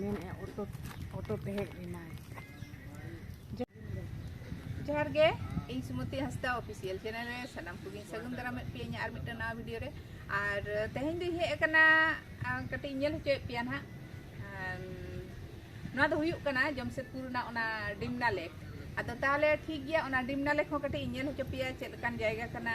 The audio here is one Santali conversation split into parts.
ᱢᱮᱱᱮᱫᱼᱟ ᱚᱴᱳ ᱚᱴᱳ ᱛᱮ ᱦᱮᱡ ᱞᱮᱱᱟᱭ ᱡᱚᱦᱟᱨ ᱜᱮ ᱤᱧ ᱥᱩᱢᱚᱛᱤ ᱦᱟᱸᱥᱫᱟ ᱚᱯᱷᱤᱥᱤᱭᱟᱞ ᱪᱮᱱᱮᱞ ᱨᱮ ᱥᱟᱱᱟᱢ ᱠᱚᱜᱮᱧ ᱥᱟᱹᱜᱩᱱ ᱫᱟᱨᱟᱢᱮᱫ ᱯᱮᱭᱟ ᱤᱧᱟᱹᱜ ᱟᱨ ᱢᱤᱫᱴᱟᱝ ᱱᱟᱣᱟ ᱵᱷᱤᱰᱤᱭᱳ ᱨᱮ ᱟᱨ ᱛᱮᱦᱮᱧ ᱫᱚᱧ ᱦᱮᱡ ᱟᱠᱟᱱᱟ ᱠᱟᱹᱴᱤᱡ ᱧᱮᱞ ᱦᱚᱪᱚᱭᱮᱫ ᱯᱮᱭᱟ ᱱᱟᱦᱟᱜ ᱱᱚᱣᱟ ᱫᱚ ᱦᱩᱭᱩᱜ ᱠᱟᱱᱟ ᱡᱚᱢᱥᱮᱫᱯᱩᱨ ᱨᱮᱱᱟᱜ ᱚᱱᱟ ᱰᱤᱢᱱᱟ ᱞᱮᱠ ᱟᱫᱚ ᱛᱟᱦᱚᱞᱮ ᱴᱷᱤᱠ ᱜᱮᱭᱟ ᱚᱱᱟ ᱰᱤᱢᱱᱟ ᱞᱮᱠ ᱦᱚᱸ ᱠᱟᱹᱴᱤᱡ ᱧᱮᱞ ᱦᱚᱪᱚ ᱯᱮᱭᱟ ᱪᱮᱫ ᱞᱮᱠᱟᱱ ᱡᱟᱭᱜᱟ ᱠᱟᱱᱟ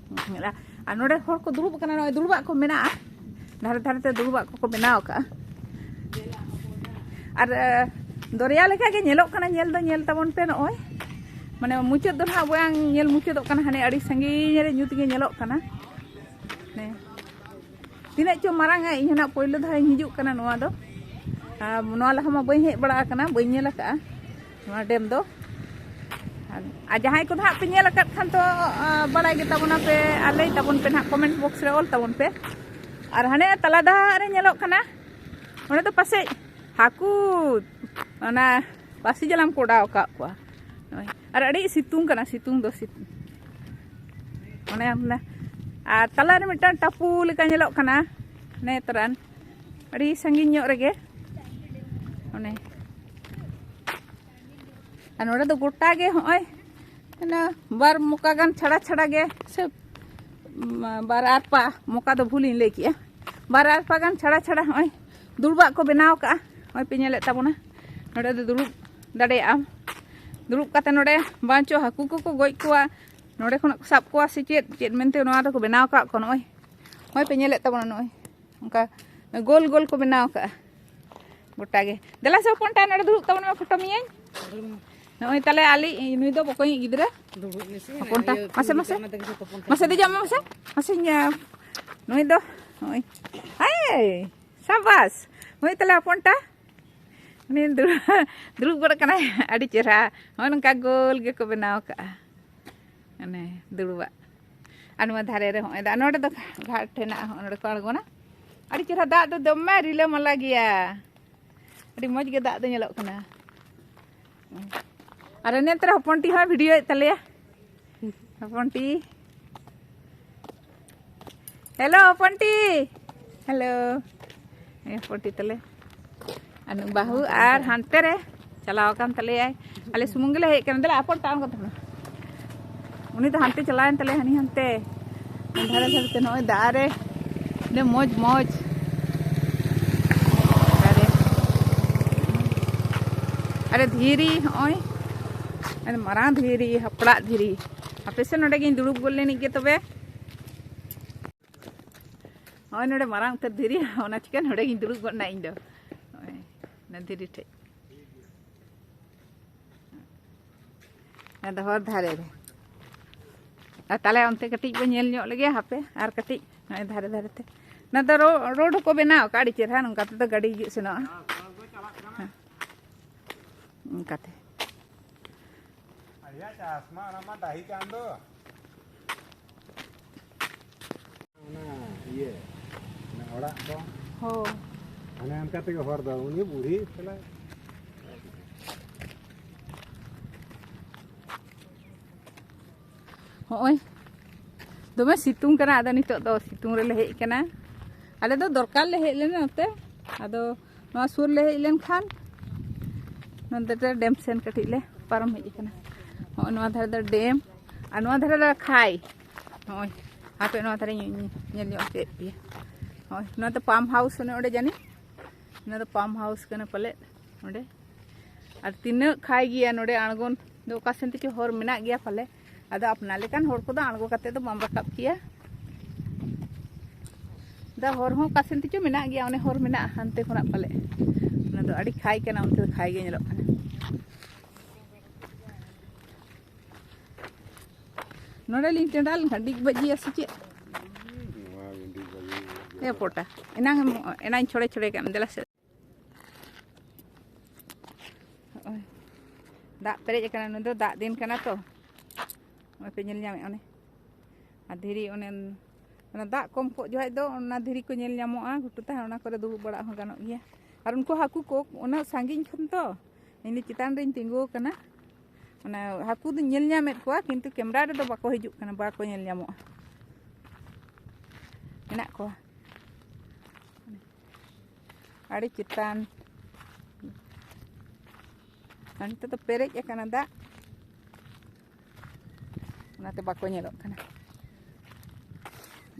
ᱢᱮᱱᱟᱜᱼᱟ ᱟᱨ ᱱᱚᱰᱮ ᱦᱚᱲ ᱠᱚ ᱫᱩᱲᱩᱵ ᱟᱠᱟᱱᱟ ᱱᱚᱜᱼᱚᱭ ᱫᱩᱲᱩᱵᱟᱜ ᱠᱚ ᱢᱮᱱᱟᱜᱼᱟ ᱫᱷᱟᱨᱮ ᱫᱷᱟᱨᱮ ᱛᱮ ᱫᱩᱲᱩᱵᱟᱜ ᱠᱚᱠᱚ ᱵᱮᱱᱟᱣ ᱟᱠᱟᱫᱼᱟ ᱟᱨ ᱫᱚᱨᱭᱟ ᱞᱮᱠᱟ ᱜᱮ ᱧᱮᱞᱚᱜ ᱠᱟᱱᱟ ᱧᱮᱞ ᱫᱚ ᱧᱮᱞ ᱛᱟᱵᱚᱱ ᱯᱮ ᱱᱚᱜᱼᱚᱭ ᱢᱟᱱᱮ ᱢᱩᱪᱟᱹᱫ ᱫᱚ ᱱᱟᱦᱟᱜ ᱵᱟᱝ ᱧᱮᱞ ᱢᱩᱪᱟᱹᱫᱚᱜ ᱠᱟᱱᱟ ᱦᱟᱱᱮ ᱟᱹᱰᱤ ᱥᱟᱺᱜᱤᱧ ᱨᱮ ᱧᱩᱛ ᱜᱮ ᱧᱮᱞᱚᱜ ᱠᱟᱱᱟ ᱛᱤᱱᱟᱹᱜ ᱪᱚ ᱢᱟᱨᱟᱝ ᱤᱧ ᱦᱚᱸ ᱱᱟᱦᱟᱜ ᱯᱳᱭᱞᱳ ᱫᱷᱟᱣ ᱤᱧ ᱦᱤᱡᱩᱜ ᱠᱟᱱᱟ ᱱᱚᱣᱟ ᱫᱚ ᱱᱚᱣᱟ ᱞᱟᱦᱟ ᱢᱟ ᱵᱟᱹᱧ ᱦᱮᱡ ᱵᱟᱲᱟ ᱟᱠᱟᱱᱟ ᱵᱟᱹᱧ ᱧᱮᱞ ᱟᱠᱟᱫᱼᱟ ᱱᱚᱣᱟ ᱰᱮᱢ ᱫᱚ ᱟᱨ ᱡᱟᱦᱟᱸᱭ ᱠᱚᱫᱚ ᱦᱟᱸᱜ ᱯᱮ ᱧᱮᱞ ᱟᱠᱟᱫ ᱠᱷᱟᱱ ᱫᱚ ᱵᱟᱲᱟᱭ ᱜᱮ ᱛᱟᱵᱚᱱᱟ ᱯᱮ ᱟᱨ ᱞᱟᱹᱭ ᱛᱟᱵᱚᱱ ᱯᱮ ᱱᱟᱦᱟᱜ ᱠᱚᱢᱮᱱᱴ ᱵᱚᱠᱥ ᱨᱮ ᱚᱞ ᱛᱟᱵᱚᱱ ᱯᱮ ᱟᱨ ᱦᱟᱱᱮ ᱛᱟᱞᱟ ᱫᱟᱦᱟᱜ ᱨᱮ ᱧᱮᱞᱚᱜ ᱠᱟᱱᱟ ᱚᱸᱰᱮ ᱫᱚ ᱯᱟᱥᱮᱡ ᱦᱟᱹᱠᱩ ᱚᱱᱟ ᱯᱟᱹᱥᱤ ᱡᱟᱞᱟᱢ ᱠᱚ ᱚᱰᱟᱣ ᱟᱠᱟᱫ ᱠᱚᱣᱟ ᱟᱨ ᱟᱹᱰᱤ ᱥᱤᱛᱩᱝ ᱠᱟᱱᱟ ᱥᱤᱛᱩᱝ ᱫᱚ ᱥᱤᱛᱩᱝ ᱚᱱᱮ ᱟᱨ ᱛᱟᱞᱟᱨᱮ ᱢᱤᱫᱴᱟᱝ ᱴᱟᱯᱩ ᱞᱮᱠᱟ ᱧᱮᱞᱚᱜ ᱠᱟᱱᱟ ᱱᱮᱛᱨᱟᱱ ᱟᱹᱰᱤ ᱥᱟᱺᱜᱤᱧ ᱧᱚᱜ ᱨᱮᱜᱮ ᱚᱱᱮ ᱟᱨ ᱱᱚᱰᱮ ᱫᱚ ᱜᱚᱴᱟ ᱜᱮ ᱦᱚᱸᱜᱼᱚᱭ ᱚᱱᱟ ᱵᱟᱨ ᱢᱚᱠᱟ ᱜᱟᱱ ᱪᱷᱟᱲᱟ ᱪᱷᱟᱲᱟ ᱜᱮ ᱥᱮ ᱵᱟᱨ ᱟᱨ ᱯᱟ ᱢᱚᱠᱟ ᱫᱚ ᱵᱷᱩᱞᱤᱧ ᱞᱟᱹᱭ ᱠᱮᱜᱼᱟ ᱵᱟᱨ ᱟᱨ ᱯᱟ ᱜᱟᱱ ᱪᱷᱟᱲᱟ ᱪᱷᱟᱲᱟ ᱦᱚᱸᱜᱼᱚᱭ ᱫᱩᱲᱩᱵᱟᱜ ᱠᱚ ᱵᱮᱱᱟᱣ ᱠᱟᱜᱼᱟ ᱦᱚᱸᱜᱼᱚᱭ ᱯᱮ ᱧᱮᱞᱮᱫ ᱛᱟᱵᱚᱱᱟ ᱱᱚᱰᱮ ᱫᱚ ᱫᱩᱲᱩᱵ ᱫᱟᱲᱮᱭᱟᱜᱼᱟᱢ ᱫᱩᱲᱩᱵ ᱠᱟᱛᱮ ᱱᱚᱰᱮ ᱵᱟᱝ ᱪᱚ ᱦᱟᱹᱠᱩ ᱠᱚᱠᱚ ᱜᱚᱡ ᱠᱚᱣᱟ ᱱᱚᱰᱮ ᱠᱷᱚᱱᱟᱜ ᱠᱚ ᱥᱟᱵ ᱠᱚᱣᱟ ᱥᱮ ᱪᱮᱫ ᱪᱮᱫ ᱢᱮᱱᱛᱮ ᱱᱚᱣᱟ ᱫᱚᱠᱚ ᱵᱮᱱᱟᱣ ᱠᱟᱜ ᱠᱚᱣᱟ ᱱᱚᱜᱼᱚᱭ ᱱᱚᱜᱼᱚᱭ ᱯᱮ ᱧᱮᱞᱮᱫ ᱛᱟᱵᱚᱱᱟ ᱱᱚᱜᱼᱚᱭ ᱚᱱᱠᱟ ᱜᱳᱞ ᱜᱳᱞ ᱠᱚ ᱵᱮᱱᱟᱣ ᱠᱟᱜᱼᱟ ᱜᱚᱴᱟ ᱜᱮ ᱫᱮᱞᱟ ᱥᱮ ᱦᱚᱯᱚᱱ ᱴᱟᱭ ᱱᱚᱰᱮ ᱫᱩᱲᱩᱵ ᱛᱟᱵᱚᱱ ᱢᱮ ᱯᱷᱳᱴᱳ ᱢᱤᱭᱟᱹᱧ ᱱᱚᱜᱼᱚᱭ ᱛᱟᱦᱞᱮ ᱟᱞᱤᱧ ᱱᱩᱭ ᱫᱚ ᱵᱚᱠᱚᱧᱤᱡ ᱜᱤᱫᱽᱨᱟᱹ ᱦᱚᱯᱚᱱ ᱴᱟ ᱢᱟᱥᱮ ᱢᱟᱥᱮ ᱢᱟᱥᱮ ᱫᱮᱡᱚᱜ ᱢᱮ ᱢᱟᱥᱮ ᱢᱟᱥᱮ ᱱᱩᱭ ᱫᱚ ᱱᱚᱜᱼᱚᱭ ᱟᱭ ᱥᱟᱵᱟᱥ ᱱᱩᱭ ᱛᱟᱦᱞᱮ ᱦᱚᱯᱚᱱ ᱴᱟ ᱩᱱᱤ ᱫᱩᱲᱩᱵ ᱫᱩᱲᱩᱵ ᱜᱚᱫ ᱠᱟᱱᱟᱭ ᱟᱹᱰᱤ ᱪᱮᱦᱨᱟ ᱱᱚᱜᱼᱚᱭ ᱱᱚᱝᱠᱟ ᱜᱳᱞ ᱜᱮᱠᱚ ᱵᱮᱱᱟᱣ ᱠᱟᱜᱼᱟ ᱚᱱᱮ ᱫᱩᱲᱩᱵᱟᱜ ᱟᱨ ᱱᱚᱣᱟ ᱫᱷᱟᱨᱮ ᱨᱮ ᱦᱚᱸᱜᱼᱚᱭ ᱫᱟᱜ ᱱᱚᱰᱮ ᱫᱚ ᱜᱷᱟᱴ ᱦᱮᱱᱟᱜᱼᱟ ᱦᱚᱸᱜ ᱱᱚᱰᱮ ᱠᱚ ᱟᱬᱜᱚᱱᱟ ᱟᱹᱰᱤ ᱪᱮᱦᱨᱟ ᱫᱟᱜ ᱫᱚ ᱫᱚᱢᱮ ᱨᱤᱞᱟᱹᱢᱟᱞᱟ ᱜᱮᱭᱟ ᱟᱹᱰᱤ ᱢᱚᱡᱽ ᱜᱮ ᱫᱟᱜ ᱫᱚ ᱧᱮᱞᱚᱜ ᱠᱟᱱᱟ ᱟᱨ ᱮᱱᱮᱡ ᱛᱮ ᱦᱚᱯᱚᱱ ᱴᱤ ᱦᱚᱸ ᱵᱷᱤᱰᱤᱭᱳᱭᱮᱫ ᱛᱟᱞᱮᱭᱟ ᱦᱚᱯᱚᱱ ᱴᱤ ᱦᱮᱞᱳ ᱦᱚᱯᱚᱱ ᱴᱤ ᱦᱮᱞᱳ ᱦᱚᱯᱚᱱ ᱴᱤ ᱛᱟᱞᱮ ᱟᱹᱱᱩ ᱵᱟᱹᱦᱩ ᱟᱨ ᱦᱟᱱᱛᱮ ᱨᱮ ᱪᱟᱞᱟᱣ ᱟᱠᱟᱱ ᱛᱟᱞᱮᱭᱟᱭ ᱟᱞᱮ ᱥᱩᱢᱩᱝ ᱜᱮᱞᱮ ᱦᱮᱡ ᱟᱠᱟᱱᱟ ᱫᱮᱞᱟ ᱟᱯᱚᱨ ᱛᱟᱲᱟᱢ ᱠᱟᱛᱮ ᱩᱱᱤ ᱫᱚ ᱦᱟᱱᱛᱮ ᱪᱟᱞᱟᱣᱮᱱ ᱛᱟᱞᱮ ᱦᱟᱹᱱᱤ ᱦᱟᱱᱛᱮ ᱫᱷᱟᱨᱮ ᱫᱷᱟᱨᱮ ᱛᱮ ᱱᱚᱜᱼᱚᱭ ᱫᱟᱜ ᱨᱮ ᱟᱹᱰᱤ ᱢᱚᱡᱽ ᱢᱚᱡᱽ ᱟᱨᱮ ᱫᱷᱤᱨᱤ ᱦᱚᱸᱜᱼᱚᱭ ᱟᱹᱰᱤ ᱢᱟᱨᱟᱝ ᱫᱷᱤᱨᱤ ᱦᱟᱯᱲᱟᱜ ᱫᱷᱤᱨᱤ ᱟᱯᱮ ᱥᱮᱫ ᱱᱚᱰᱮ ᱜᱤᱧ ᱫᱩᱲᱩᱵ ᱜᱚᱫ ᱞᱮᱱᱤᱡ ᱜᱮ ᱛᱚᱵᱮ ᱱᱚᱜᱼᱚᱭ ᱱᱚᱰᱮ ᱢᱟᱨᱟᱝ ᱩᱛᱟᱹᱨ ᱫᱷᱤᱨᱤ ᱚᱱᱟ ᱪᱤᱠᱟᱹ ᱱᱚᱰᱮ ᱜᱤᱧ ᱫᱩᱲᱩᱵ ᱜᱚᱫ ᱮᱱᱟ ᱤᱧ ᱫᱚ ᱱᱚᱜᱼᱚᱭ ᱚᱱᱟ ᱫᱷᱤᱨᱤ ᱴᱷᱮᱡ ᱟᱫᱚ ᱦᱚᱨ ᱫᱷᱟᱨᱮ ᱨᱮ ᱟᱨ ᱛᱟᱦᱞᱮ ᱚᱱᱛᱮ ᱠᱟᱹᱴᱤᱡ ᱵᱚ ᱧᱮᱞ ᱧᱚᱜ ᱞᱮᱜᱮ ᱦᱟᱯᱮ ᱟᱨ ᱠᱟᱹᱴᱤᱡ ᱱᱚᱜᱼᱚᱭ ᱫᱷᱟᱨᱮ ᱫᱷᱟᱨᱮ ᱛᱮ ᱚᱱᱟ ᱫᱚ ᱨᱳᱰ ᱦᱚᱸᱠᱚ ᱵᱮᱱᱟᱣ ᱟᱠᱟᱫ ᱟᱹᱰᱤ ᱪᱮᱦᱨᱟ ᱱᱚᱝᱠᱟ ᱛᱮᱫᱚ ᱜᱟᱹᱰᱤ ᱦᱤᱡᱩᱜ ᱥᱮᱱᱚᱜᱼᱟ ᱚᱱᱠᱟᱛᱮ ᱪᱟᱥ ᱢᱟ ᱚᱱᱟ ᱢᱟ ᱰᱟᱹᱦᱤ ᱠᱟᱱ ᱫᱚ ᱚᱲᱟᱜ ᱫᱚ ᱦᱳᱭ ᱚᱱᱮ ᱚᱱᱠᱟ ᱛᱮᱜᱮ ᱦᱚᱨ ᱫᱚ ᱩᱱᱤ ᱵᱩᱲᱦᱤ ᱛᱟᱦᱞᱮ ᱦᱚᱸᱜᱼᱚᱭ ᱫᱚᱢᱮ ᱥᱤᱛᱩᱝ ᱠᱟᱱᱟ ᱟᱫᱚ ᱱᱤᱛᱚᱜ ᱫᱚ ᱥᱤᱛᱩᱝ ᱨᱮᱞᱮ ᱦᱮᱡ ᱠᱟᱱᱟ ᱟᱞᱮ ᱫᱚ ᱫᱚᱨᱠᱟᱨ ᱞᱮ ᱦᱮᱡ ᱞᱮᱱᱟ ᱱᱚᱛᱮ ᱟᱫᱚ ᱱᱚᱣᱟ ᱥᱩᱨ ᱞᱮ ᱦᱮᱡ ᱞᱮᱱᱠᱷᱟᱱ ᱱᱚᱛᱮ ᱨᱮ ᱰᱮᱢ ᱥᱮᱱ ᱠᱟᱹᱴᱤᱡ ᱞᱮ ᱯᱟᱨᱚᱢ ᱦᱮᱡ ᱟᱠᱟᱱᱟ ᱱᱚᱜᱼᱚᱭ ᱱᱚᱣᱟ ᱫᱷᱟᱨᱮ ᱫᱚ ᱰᱮᱢ ᱟᱨ ᱱᱚᱣᱟ ᱫᱷᱟᱨᱮ ᱫᱚ ᱠᱷᱟᱭ ᱱᱚᱜᱼᱚᱭ ᱦᱟᱯᱮ ᱱᱚᱣᱟ ᱫᱷᱟᱨᱮ ᱧᱮᱞ ᱧᱚᱜ ᱦᱚᱪᱚᱭᱮᱫ ᱯᱮᱭᱟ ᱱᱚᱜᱼᱚᱭ ᱱᱚᱣᱟ ᱫᱚ ᱯᱟᱢᱯ ᱦᱟᱣᱩᱥ ᱚᱱᱮ ᱚᱸᱰᱮ ᱡᱟᱹᱱᱤᱡ ᱱᱚᱣᱟ ᱫᱚ ᱯᱟᱢᱯ ᱦᱟᱣᱩᱥ ᱠᱟᱱᱟ ᱯᱟᱞᱮᱫ ᱚᱸᱰᱮ ᱟᱨ ᱛᱤᱱᱟᱹᱜ ᱠᱷᱟᱭ ᱜᱮᱭᱟ ᱱᱚᱰᱮ ᱟᱬᱜᱚᱱ ᱫᱚ ᱚᱠᱟ ᱥᱮᱱ ᱛᱮᱪᱚ ᱦᱚᱨ ᱢᱮᱱᱟᱜ ᱜᱮᱭᱟ ᱯᱟᱞᱮ ᱟᱫᱚ ᱟᱯᱱᱟᱨ ᱞᱮᱠᱟᱱ ᱦᱚᱲ ᱠᱚᱫᱚ ᱟᱬᱜᱚ ᱠᱟᱛᱮ ᱫᱚ ᱵᱟᱢ ᱨᱟᱠᱟᱵ ᱠᱮᱭᱟ ᱫᱟ ᱦᱚᱨ ᱦᱚᱸ ᱚᱠᱟ ᱥᱮᱱ ᱛᱮᱪᱚ ᱢᱮᱱᱟᱜ ᱜᱮᱭᱟ ᱚᱱᱮ ᱦᱚᱨ ᱢᱮᱱᱟᱜᱼᱟ ᱦᱟᱱᱛᱮ ᱠᱷᱚᱱᱟᱜ ᱯᱟᱞᱮ ᱚᱱᱟ ᱫᱚ ᱟᱹᱰᱤ ᱠᱷᱟᱭ ᱠᱟᱱᱟ ᱚᱱᱛᱮ ᱫᱚ ᱠᱷᱟᱭ ᱜᱮ ᱧᱮᱞᱚᱜ ᱠᱟᱱᱟ ᱱᱚᱰᱮ ᱞᱤᱧ ᱴᱮᱸᱰᱟ ᱞᱮᱱᱠᱷᱟᱱ ᱰᱤᱜ ᱵᱟᱡᱤᱭᱟ ᱥᱮ ᱪᱮᱫ ᱮ ᱯᱚᱴᱟ ᱮᱱᱟᱝ ᱮᱱᱟᱝ ᱪᱷᱚᱲᱮ ᱪᱷᱚᱲᱮ ᱠᱟᱜ ᱫᱮᱞᱟ ᱥᱮ ᱦᱚᱜᱼᱚᱭ ᱫᱟᱜ ᱯᱮᱨᱮᱡ ᱟᱠᱟᱱᱟ ᱱᱩᱭ ᱫᱚ ᱫᱟᱜ ᱫᱤᱱ ᱠᱟᱱᱟ ᱛᱚ ᱱᱚᱜᱼᱚᱭ ᱯᱮ ᱧᱮᱞ ᱧᱟᱢᱮᱫ ᱚᱱᱮ ᱟᱨ ᱫᱷᱤᱨᱤ ᱚᱱᱮ ᱚᱱᱟ ᱫᱟᱜ ᱠᱚᱢ ᱠᱚᱜ ᱡᱚᱠᱷᱟᱡ ᱫᱚ ᱚᱱᱟ ᱫᱷᱤᱨᱤ ᱠᱚ ᱧᱮᱞ ᱧᱟᱢᱚᱜᱼᱟ ᱜᱷᱩᱴᱩ ᱛᱟᱦᱮᱸ ᱚᱱᱟ ᱠᱚᱨᱮ ᱫᱩᱲᱩᱵ ᱵᱟᱲᱟᱜ ᱦᱚᱸ ᱜᱟᱱᱚᱜ ᱜᱮᱭᱟ ᱟᱨ ᱩᱱᱠᱩ ᱦᱟᱹᱠᱩ ᱠᱚ ᱚᱱᱟ ᱥᱟᱺᱜᱤᱧ ᱠᱷᱚᱱ ᱛᱚ ᱤᱧ ᱪᱮᱛᱟᱱ ᱨᱮᱧ ᱛᱤᱸᱜᱩ ᱟᱠᱟᱱᱟ ᱚᱱᱟ ᱦᱟᱹᱠᱩ ᱫᱚᱧ ᱧᱮᱞ ᱧᱟᱢᱮᱫ ᱠᱚᱣᱟ ᱠᱤᱱᱛᱩ ᱠᱮᱢᱨᱟ ᱨᱮᱫᱚ ᱵᱟᱠᱚ ᱦᱤᱡᱩᱜ ᱠᱟᱱᱟ ᱵᱟᱠᱚ ᱧᱮᱞ ᱧᱟᱢᱚᱜᱼᱟ ᱢᱮᱱᱟᱜ ᱠᱚᱣᱟ ᱟᱹᱰᱤ ᱪᱮᱛᱟᱱ ᱟᱨ ᱱᱤᱛᱚᱜ ᱫᱚ ᱯᱮᱨᱮᱡ ᱟᱠᱟᱱᱟ ᱫᱟᱜ ᱚᱱᱟᱛᱮ ᱵᱟᱠᱚ ᱧᱮᱞᱚᱜ ᱠᱟᱱᱟ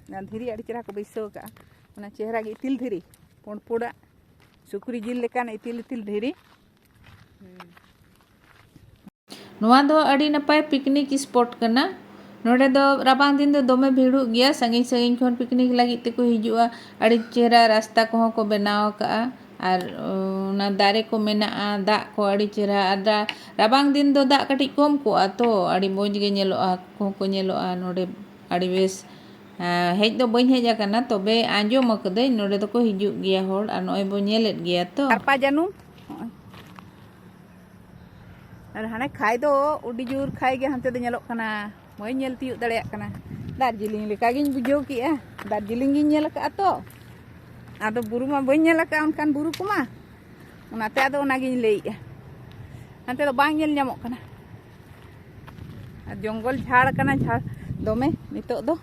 ᱚᱱᱟ ᱫᱷᱤᱨᱤ ᱟᱹᱰᱤ ᱪᱮᱦᱨᱟ ᱠᱚ ᱵᱟᱹᱭᱥᱟᱹᱣ ᱠᱟᱜᱼᱟ ᱚᱱᱟ ᱪᱮᱦᱨᱟ ᱜᱮ ᱤᱛᱤᱞ ᱫᱷᱤᱨᱤ ᱯᱩᱸᱰ ᱯᱩᱸᱰᱟᱜ ᱥᱩᱠᱨᱤ ᱡᱤᱞ ᱞᱮᱠᱟᱱ ᱤᱛᱤᱞ ᱤᱛᱤᱞ ᱫᱷᱤᱨᱤ ᱱᱚᱣᱟ ᱫᱚ ᱟᱹᱰᱤ ᱱᱟᱯᱟᱭ ᱯᱤᱠᱱᱤᱠ ᱥᱯᱚᱴ ᱠᱟᱱᱟ ᱱᱚᱰᱮ ᱫᱚ ᱨᱟᱵᱟᱝ ᱫᱤᱱ ᱫᱚ ᱫᱚᱢᱮ ᱵᱷᱤᱲᱚᱜ ᱜᱮᱭᱟ ᱥᱟᱺᱜᱤᱧ ᱥᱟᱺᱜᱤᱧ ᱠᱷᱚᱱ ᱯᱤᱠᱱᱤᱠ ᱞᱟᱹᱜᱤᱫ ᱛᱮᱠᱚ ᱦᱤᱡᱩᱜᱼᱟ ᱟᱹᱰᱤ ᱪᱮᱦᱨᱟ ᱨᱟᱥᱛᱟ ᱠᱚᱦᱚᱸ ᱠᱚ ᱵᱮᱱᱟᱣ ᱟᱠᱟᱫᱼᱟ ᱟᱨ ᱚᱱᱟ ᱫᱟᱨᱮ ᱠᱚ ᱢᱮᱱᱟᱜᱼᱟ ᱫᱟᱜ ᱠᱚ ᱟᱹᱰᱤ ᱪᱮᱦᱨᱟ ᱟᱨ ᱨᱟᱵᱟᱝ ᱫᱤᱱ ᱫᱚ ᱫᱟᱜ ᱠᱟᱹᱴᱤᱡ ᱠᱚᱢ ᱠᱚᱜᱼᱟ ᱛᱚ ᱟᱹᱰᱤ ᱢᱚᱡᱽ ᱜᱮ ᱧᱮᱞᱚᱜᱼᱟ ᱦᱟᱹᱠᱩ ᱠᱚᱦᱚᱸ ᱠᱚ ᱧᱮᱞᱚᱜᱼᱟ ᱱᱚᱰᱮ ᱟᱹᱰᱤ ᱵᱮᱥ ᱦᱮᱡ ᱫᱚ ᱵᱟᱹᱧ ᱦᱮᱡ ᱟᱠᱟᱱᱟ ᱛᱚᱵᱮ ᱟᱸᱡᱚᱢ ᱟᱠᱟᱫᱟᱹᱧ ᱱᱚᱰᱮ ᱫᱚᱠᱚ ᱦᱤᱡᱩᱜ ᱜᱮᱭᱟ ᱦᱚᱲ ᱟᱨ ᱱᱚᱜᱼᱚᱭ ᱵᱚ ᱧᱮᱞᱮᱫ ᱜᱮᱭᱟ ᱛᱚ ᱟᱨᱯᱟ ᱡᱟᱹᱱᱩᱢ ᱟᱨ ᱦᱟᱱᱮ ᱠᱷᱟᱭ ᱫᱚ ᱟᱹᱰᱤ ᱡᱳᱨ ᱠᱷᱟᱭ ᱜᱮ ᱦᱟᱱᱛᱮ ᱫᱚ ᱧᱮᱞᱚᱜ ᱠᱟᱱᱟ ᱵᱟᱹᱧ ᱧᱮᱞ ᱛᱤᱭᱳᱜ ᱫᱟᱲᱮᱭᱟᱜ ᱠᱟᱱᱟ ᱫᱟᱨᱡᱤᱞᱤᱝ ᱞᱮᱠᱟ ᱜᱤᱧ ᱵᱩᱡᱷᱟᱹᱣ ᱠᱮᱜᱼᱟ ᱫᱟᱨᱡᱤᱞᱤᱝ ᱜᱤᱧ ᱧᱮᱞ ᱟᱠᱟᱫᱼᱟ ᱛᱚ ᱟᱫᱚ ᱵᱩᱨᱩ ᱢᱟ ᱵᱟᱹᱧ ᱧᱮᱞ ᱟᱠᱟᱫᱼᱟ ᱚᱱᱠᱟᱱ ᱵᱩᱨᱩ ᱠᱚᱢᱟ ᱚᱱᱟᱛᱮ ᱟᱫᱚ ᱚᱱᱟᱜᱤᱧ ᱞᱟᱹᱭᱮᱜᱼᱟ ᱦᱟᱱᱛᱮ ᱫᱚ ᱵᱟᱝ ᱧᱮᱞ ᱧᱟᱢᱚᱜ ᱠᱟᱱᱟ ᱡᱚᱝᱜᱚᱞ ᱡᱷᱟᱲ ᱠᱟᱱᱟ ᱡᱷᱟᱲ ᱫᱚᱢᱮ ᱱᱤᱛᱚᱜ ᱫᱚ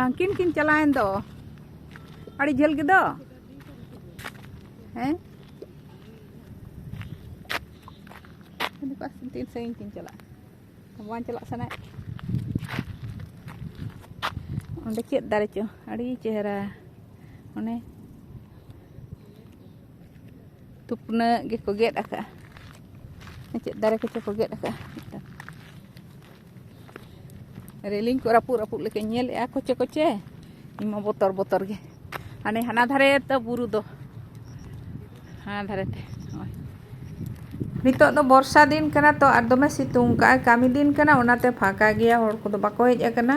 ᱩᱱᱠᱤᱱ ᱠᱤᱱ ᱪᱟᱞᱟᱣᱮᱱ ᱫᱚ ᱟᱹᱰᱤ ᱡᱷᱟᱹᱞ ᱜᱮᱫᱚ ᱦᱮᱸ ᱛᱤᱱ ᱥᱟᱺᱜᱤᱧ ᱠᱤᱱ ᱪᱟᱞᱟᱜᱼᱟ ᱵᱟᱝ ᱪᱟᱞᱟᱜ ᱥᱟᱱᱟᱭᱮᱫ ᱚᱸᱰᱮ ᱪᱮᱫ ᱫᱟᱨᱮ ᱪᱚ ᱟᱹᱰᱤ ᱪᱮᱦᱨᱟ ᱚᱱᱮ ᱛᱩᱯᱱᱟᱹᱜ ᱜᱮᱠᱚ ᱜᱮᱫ ᱟᱠᱟᱫᱼᱟ ᱪᱮᱫ ᱫᱟᱨᱮ ᱠᱚᱪᱚ ᱠᱚ ᱜᱮᱫ ᱟᱠᱟᱫᱼᱟ ᱨᱮᱞᱤᱝ ᱠᱚ ᱨᱟᱹᱯᱩᱫ ᱨᱟᱹᱯᱩᱫ ᱞᱮᱠᱟᱧ ᱧᱮᱞᱮᱫᱼᱟ ᱠᱚᱪᱮ ᱠᱚᱪᱮ ᱤᱧ ᱢᱟ ᱵᱚᱛᱚᱨ ᱵᱚᱛᱚᱨ ᱜᱮ ᱦᱟᱱᱮ ᱦᱟᱱᱟ ᱫᱷᱟᱨᱮ ᱛᱚ ᱵᱩᱨᱩ ᱫᱚ ᱦᱟᱱᱟ ᱫᱷᱟᱨᱮ ᱛᱮ ᱱᱤᱛᱚᱜ ᱫᱚ ᱵᱚᱨᱥᱟ ᱫᱤᱱ ᱠᱟᱱᱟ ᱛᱚ ᱟᱨ ᱫᱚᱢᱮ ᱥᱤᱛᱩᱝ ᱠᱟᱜᱼᱟ ᱠᱟᱹᱢᱤ ᱫᱤᱱ ᱠᱟᱱᱟ ᱚᱱᱟᱛᱮ ᱯᱷᱟᱸᱠᱟ ᱜᱮᱭᱟ ᱦᱚᱲ ᱠᱚᱫᱚ ᱵᱟᱠᱚ ᱦᱮᱡ ᱟᱠᱟᱱᱟ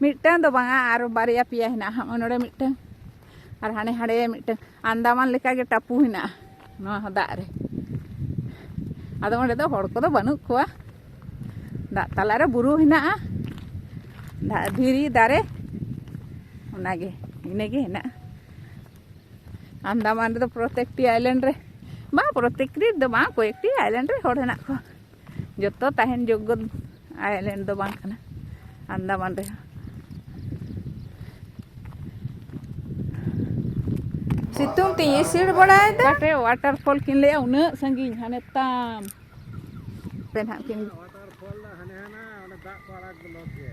ᱢᱤᱫᱴᱟᱝ ᱫᱚ ᱵᱟᱝᱟ ᱟᱨ ᱵᱟᱨᱭᱟ ᱯᱮᱭᱟ ᱦᱮᱱᱟᱜᱼᱟ ᱦᱚᱸᱜᱼᱚᱭ ᱱᱚᱰᱮ ᱢᱤᱫᱴᱟᱝ ᱟᱨ ᱦᱟᱸᱰᱮ ᱦᱟᱸᱰᱮ ᱢᱤᱫᱴᱟᱝ ᱟᱱᱫᱟᱢᱟᱱ ᱞᱮᱠᱟᱜᱮ ᱴᱟᱯᱩ ᱦᱮᱱᱟᱜᱼᱟ ᱱᱚᱣᱟ ᱦᱚᱸ ᱫᱟᱜ ᱨᱮ ᱟᱫᱚ ᱚᱸᱰᱮ ᱫᱚ ᱦᱚᱲ ᱠᱚᱫᱚ ᱵᱟᱹᱱᱩᱜ ᱠᱚᱣᱟ ᱫᱟᱜ ᱛᱟᱞᱟᱨᱮ ᱵᱩᱨᱩ ᱦᱮᱱᱟᱜᱼᱟ ᱫᱟᱜ ᱫᱷᱤᱨᱤ ᱫᱟᱨᱮ ᱚᱱᱟᱜᱮ ᱤᱱᱟᱹᱜᱮ ᱦᱮᱱᱟᱜᱼᱟ ᱟᱱᱫᱟᱢᱟᱱ ᱨᱮᱫᱚ ᱯᱨᱚᱛᱮᱠᱴᱤ ᱟᱭᱞᱮᱱᱰ ᱨᱮ ᱵᱟᱝ ᱯᱨᱚᱛᱮᱠᱴᱤ ᱫᱚ ᱵᱟᱝ ᱠᱚᱭᱮᱠᱴᱤ ᱟᱭᱞᱮᱱᱰ ᱨᱮ ᱦᱚᱲ ᱦᱮᱱᱟᱜ ᱠᱚᱣᱟ ᱡᱚᱛᱚ ᱛᱟᱦᱮᱱ ᱡᱳᱜᱽᱜᱚ ᱟᱭᱞᱮᱱᱰ ᱫᱚ ᱵᱟᱝ ᱠᱟᱱᱟ ᱟᱱᱫᱟᱢᱟᱱ ᱨᱮᱦᱚᱸ ᱥᱤᱛᱩᱝ ᱛᱮ ᱤᱥᱤᱲ ᱵᱟᱲᱟᱭᱮᱫᱟ ᱚᱠᱟᱴᱮ ᱣᱟᱴᱟᱨ ᱯᱷᱚᱞ ᱠᱤᱱ ᱞᱟᱹᱭᱟ ᱩᱱᱟᱹᱜ ᱥᱟᱺᱜᱤᱧ ᱦᱟᱱᱮ ᱛᱟᱢ ᱯᱮ ᱱᱟᱦᱟᱜ ᱠᱤᱱ ᱣᱟᱴᱟᱨ ᱯᱷᱚᱞ ᱫᱚ ᱦᱟᱱᱮ ᱦᱟᱱᱟ ᱚᱸᱰᱮ ᱫᱟᱜ ᱠᱚ ᱟᱲᱟᱜ ᱵᱞᱚᱠ ᱜᱮ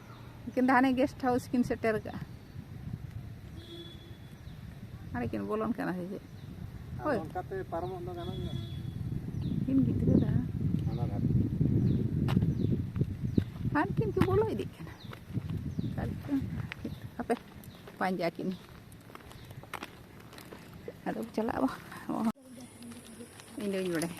ᱩᱱᱠᱤᱱ ᱫᱚ ᱦᱟᱱᱮ ᱜᱮᱥᱴ ᱦᱟᱣᱩᱥ ᱠᱤᱱ ᱥᱮᱴᱮᱨ ᱠᱟᱜᱼᱟ ᱦᱟᱱᱮ ᱠᱤᱱ ᱵᱚᱞᱚᱱ ᱠᱟᱱᱟ ᱥᱮ ᱪᱮᱫ ᱦᱳᱭ ᱚᱱᱠᱟᱛᱮ ᱯᱟᱨᱚᱢᱚᱜ ᱫᱚ ᱜᱟᱱᱚᱜ ᱜᱮᱭᱟ ᱠᱤᱱ ᱜᱤᱫᱽᱨᱟᱹ ᱫᱚ ᱚᱱᱟ ᱫᱷᱟᱨᱮ ᱦᱟᱱ ᱠᱤᱱ ᱠᱚ ᱵᱚᱞᱚ ᱤᱫᱤᱜ ᱠᱟᱱᱟ ᱟᱯᱮ ᱯᱟᱸᱡᱟ ᱠᱤᱱ ᱟᱫᱚ ᱪᱟᱞᱟᱜᱼᱟ ᱤᱧ ᱫᱚᱧ ᱵᱟᱲᱟᱭᱟ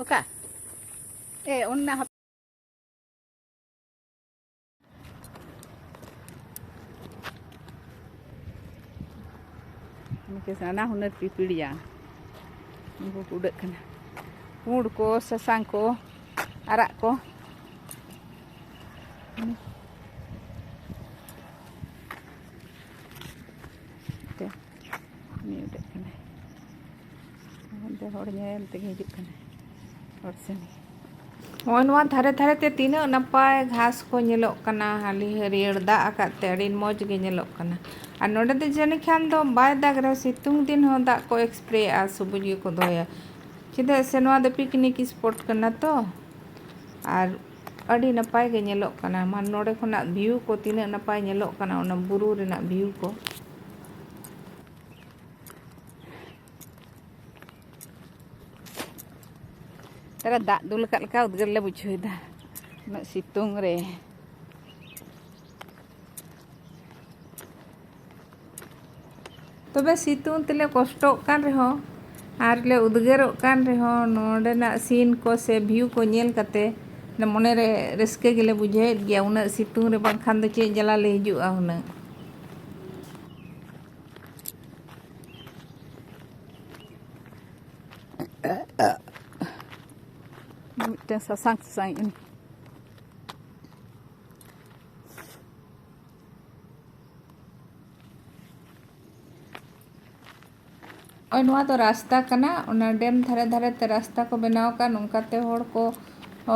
ᱚᱠᱟ ᱮ ᱚᱱᱟ ᱩᱱᱠᱩ ᱱᱟᱱᱟ ᱦᱩᱱᱟᱹᱨ ᱯᱤᱯᱤᱲᱤᱭᱟ ᱩᱱᱠᱩ ᱠᱚ ᱩᱰᱟᱹᱜ ᱠᱟᱱᱟ ᱯᱩᱸᱰ ᱠᱚ ᱥᱟᱥᱟᱝ ᱠᱚ ᱟᱨᱟᱜ ᱠᱚ ᱫᱚ ᱦᱚᱲ ᱧᱮᱞ ᱛᱮᱜᱮ ᱦᱤᱡᱩᱜ ᱠᱟᱱᱟ ᱦᱚᱲ ᱥᱮᱱ ᱱᱚᱜᱼᱚᱭ ᱱᱚᱣᱟ ᱫᱷᱟᱨᱮ ᱫᱷᱟᱨᱮ ᱛᱮ ᱛᱤᱱᱟᱹᱜ ᱱᱟᱯᱟᱭ ᱜᱷᱟᱥ ᱠᱚ ᱧᱮᱞᱚᱜ ᱠᱟᱱᱟ ᱦᱟᱹᱞᱤ ᱦᱟᱹᱨᱭᱟᱹᱲ ᱫᱟᱜ ᱟᱠᱟᱫ ᱛᱮ ᱟᱹᱰᱤ ᱢᱚᱡᱽ ᱜᱮ ᱧᱮᱞᱚᱜ ᱠᱟᱱᱟ ᱟᱨ ᱱᱚᱰᱮ ᱫᱚ ᱡᱟᱹᱱᱤᱡ ᱠᱷᱟᱱ ᱫᱚ ᱵᱟᱭ ᱫᱟᱜᱽ ᱨᱮᱦᱚᱸ ᱥᱤᱛᱩᱝ ᱫᱤᱱ ᱦᱚᱸ ᱫᱟᱜ ᱠᱚ ᱮᱠᱥᱯᱨᱮᱭᱟᱜᱼᱟ ᱥᱩᱵᱩᱡᱽ ᱜᱮᱠᱚ ᱫᱚᱦᱚᱭᱟ ᱪᱮᱫᱟᱜ ᱥᱮ ᱱᱚᱣᱟ ᱫᱚ ᱯᱤᱠᱱᱤᱠ ᱥᱯᱚᱴ ᱠᱟᱱᱟ ᱛᱚ ᱟᱨ ᱟᱹᱰᱤ ᱱᱟᱯᱟᱭ ᱜᱮ ᱧᱮᱞᱚᱜ ᱠᱟᱱᱟ ᱢᱟ ᱱᱚᱰᱮ ᱠᱷᱚᱱᱟᱜ ᱵᱷᱤᱭᱩ ᱠᱚ ᱛᱤᱱᱟᱹᱜ ᱱᱟᱯᱟᱭ ᱧᱮᱞᱚᱜ ᱠᱟᱱᱟ ᱚᱱᱟ ᱵᱩᱨᱩ ᱨᱮᱱᱟᱜ ᱵᱷᱤᱭᱩ ᱠᱚ ᱛᱟᱨᱟ ᱫᱟᱜ ᱫᱩᱞ ᱟᱠᱟᱫ ᱞᱮᱠᱟ ᱩᱫᱽᱜᱟᱹᱨ ᱞᱮ ᱵᱩᱡᱷᱟᱹᱣᱮᱫᱟ ᱩᱱᱟᱹᱜ ᱥᱤᱛᱩᱝ ᱨᱮ ᱛᱚᱵᱮ ᱥᱤᱛᱩᱝ ᱛᱮᱞᱮ ᱠᱚᱥᱴᱚᱜ ᱠᱟᱱ ᱨᱮᱦᱚᱸ ᱟᱨ ᱞᱮ ᱩᱫᱽᱜᱟᱹᱨᱚᱜ ᱠᱟᱱ ᱨᱮᱦᱚᱸ ᱱᱚᱰᱮᱱᱟᱜ ᱥᱤᱱ ᱠᱚ ᱥᱮ ᱵᱷᱤᱭᱩ ᱠᱚ ᱧᱮᱞ ᱠᱟᱛᱮ ᱢᱚᱱᱮ ᱨᱮ ᱨᱟᱹᱥᱠᱟᱹ ᱜᱮᱞᱮ ᱵᱩᱡᱷᱟᱹᱣᱮᱫ ᱜᱮᱭᱟ ᱩᱱᱟᱹᱜ ᱥᱤᱛᱩᱝ ᱨᱮ ᱵᱟᱝᱠᱷᱟᱱ ᱫᱚ ᱪᱮᱫ ᱡᱟᱞᱟ ᱞᱮ ᱦᱤᱡᱩᱜᱼᱟ ᱦᱩᱱᱟᱹᱝ ᱢᱤᱫᱴᱮᱱ ᱥᱟᱥᱟᱝ ᱥᱟᱥᱟᱝ ᱤᱧ ᱱᱚᱜᱼᱚᱭ ᱱᱚᱣᱟ ᱫᱚ ᱨᱟᱥᱛᱟ ᱠᱟᱱᱟ ᱚᱱᱟ ᱰᱮᱢ ᱫᱷᱟᱨᱮ ᱫᱷᱟᱨᱮ ᱛᱮ ᱨᱟᱥᱛᱟ ᱠᱚ ᱵᱮᱱᱟᱣ ᱟᱠᱟᱫᱼᱟ ᱱᱚᱝᱠᱟᱛᱮ ᱦᱚᱲ ᱠᱚ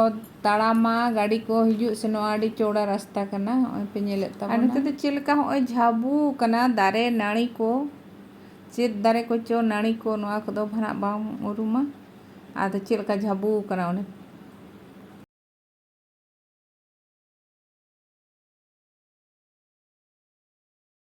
ᱚᱛ ᱛᱟᱲᱟᱢᱟ ᱜᱟᱹᱰᱤ ᱠᱚ ᱦᱤᱡᱩᱜ ᱥᱮᱱᱚᱜᱼᱟ ᱟᱹᱰᱤ ᱪᱚᱣᱲᱟ ᱨᱟᱥᱛᱟ ᱠᱟᱱᱟ ᱱᱚᱜᱼᱚᱭ ᱯᱮ ᱧᱮᱞᱮᱫ ᱛᱟᱵᱚᱱᱟ ᱟᱨ ᱱᱚᱛᱮ ᱫᱚ ᱪᱮᱫ ᱞᱮᱠᱟ ᱱᱚᱜᱼᱚᱭ ᱡᱷᱟᱵᱩ ᱠᱟᱱᱟ ᱫᱟᱨᱮ ᱱᱟᱹᱲᱤ ᱠᱚ ᱪᱮᱫ ᱫᱟᱨᱮ ᱠᱚᱪᱚ ᱱᱟᱹᱲᱤ ᱠᱚ ᱱᱚᱣᱟ ᱠᱚᱫᱚ ᱵᱷᱟᱱᱟᱜ ᱵᱟᱝ ᱩᱨᱩᱢᱟ ᱟᱫᱚ ᱪᱮᱫ ᱞᱮᱠᱟ ᱡᱷᱟᱵᱩ ᱠᱟᱱᱟ ᱚᱱᱮ